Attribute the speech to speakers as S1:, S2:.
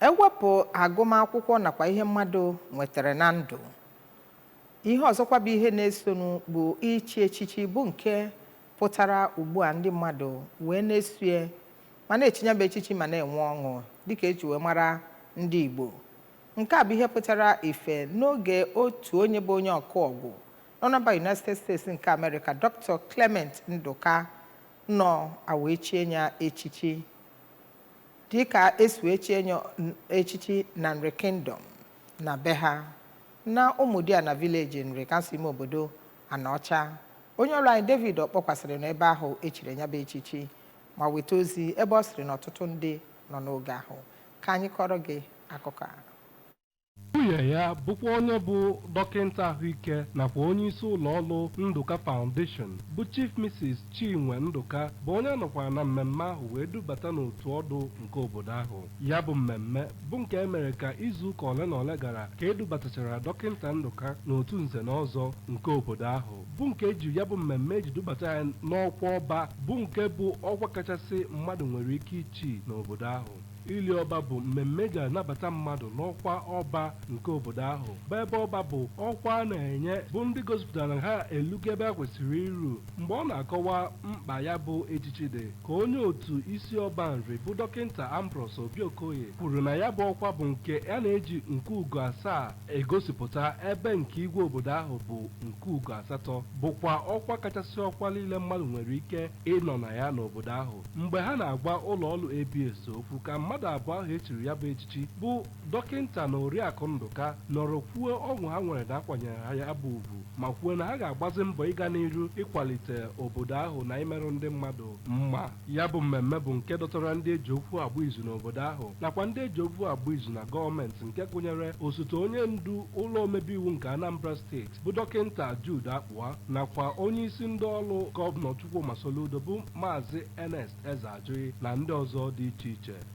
S1: E wepụ agụmakwụkwọ nakwa ihe mmadụ nwetara na ndụ, ihe ọzọkwa bụ ihe na-esonụ bụ ichi echichi bụ nke pụtara ugbu a ndị mmadụ wee na-esue ma na-echi ya bụ echichi ma na-enwe ọṅụ dịka eji wee mara ndị Igbo. Nke a bụ ihe pụtara ife n'oge otu onye bụ onye ọkụ ọgwụ nọ na mba United States nke Amerịka, Dr. Clement Ndụka nọ a wee chie ya echichi. dịka esi wee chie ya echichi na Nri Kingdom na be ha na Ụmụdiana Village Nri kansụl ime obodo Anaọcha. Onye ọrụ anyị David Ọkpọkwasịrị nọ ebe ahụ e chiri ya bụ echichi ma weta ozi ebe ọ sịrị na ọtụtụ ndị nọ n'oge ahụ. Ka anyị kọọrọ gị akụkọ a. Nwunye
S2: ya bụkwa onye bụ dọkịnta ahụike nakwa onyeisi ụlọọlụ Ndụka Foundation bụ Chief Mrs Chinwe Ndụka bụ onye a nọkwara na mmemme ahụ wee dubata n'otu ọdụ nke obodo ahụ. Ya bụ mmemme bụ nke e mere ka izuụka ole na ole gara ka e dubatachara dọkịnta Ndụka n'otu nze na ọzọ nke obodo ahụ bụ nke e ji ya bụ mmemme e ji dubata ya n'ọkwa ọba bụ nke bụ ọkwa kachasị mmadụ nwere ike ichi n'obodo ahụ. Ili Ọba bụ mmemme e ji anabata mmadụ n'ọkwa Ọba nke obodo ahụ. Bụ ebe Ọba bụ ọkwa a na-enye bụ ndị gosipụtara na ha elugo ebe ha kwesịrị iru. Mgbe ọ na-akọwa mkpa ya bụ echichi dị, ka onye otu isi Ọba Nri bụ Dọkịnta Ambrose Obi Okoye kwuru na ya bụ ọkwa bụ nke a na-eji nku ugo asaa egosipụta ebe nke Igwe obodo ahụ bụ nku ugo asatọ bụkwa ọkwa kachasị ọkwa niile mmadụ nwere ike ịnọ na ya n'obodo ahụ. mgbe ha na-agwa ụlọọlụ ABS okwu ka mmadụ abụọ ahụ e chiri ya bụ echichi bụ Dọkịnta na Oriakụ Ndụka nọrọ kwuo ọṅụ ha nwere na a kwanyere ha ya bụ ugwu ma kwuo na ha ga-agbazi mbọ ịga n'iru ịkwalite obodo ahụ na imerụ ndị mmadụ mma ya bụ mmemme bụ nke dọtara ndị eji okwu agba izu n'obodo ahụ nakwa ndị eji okwu agba izu na gọọmenti nke gụnyere osote onye ndu ụlọ omebe iwu nke Anambra steeti bụ dọkịnta Jude Akpụa nakwa onyeisi ndị ọrụ gọvanọ Chukwuma Soludo bụ Maazị Ernest Ezeajụghị na ndị ọzọ dị iche iche.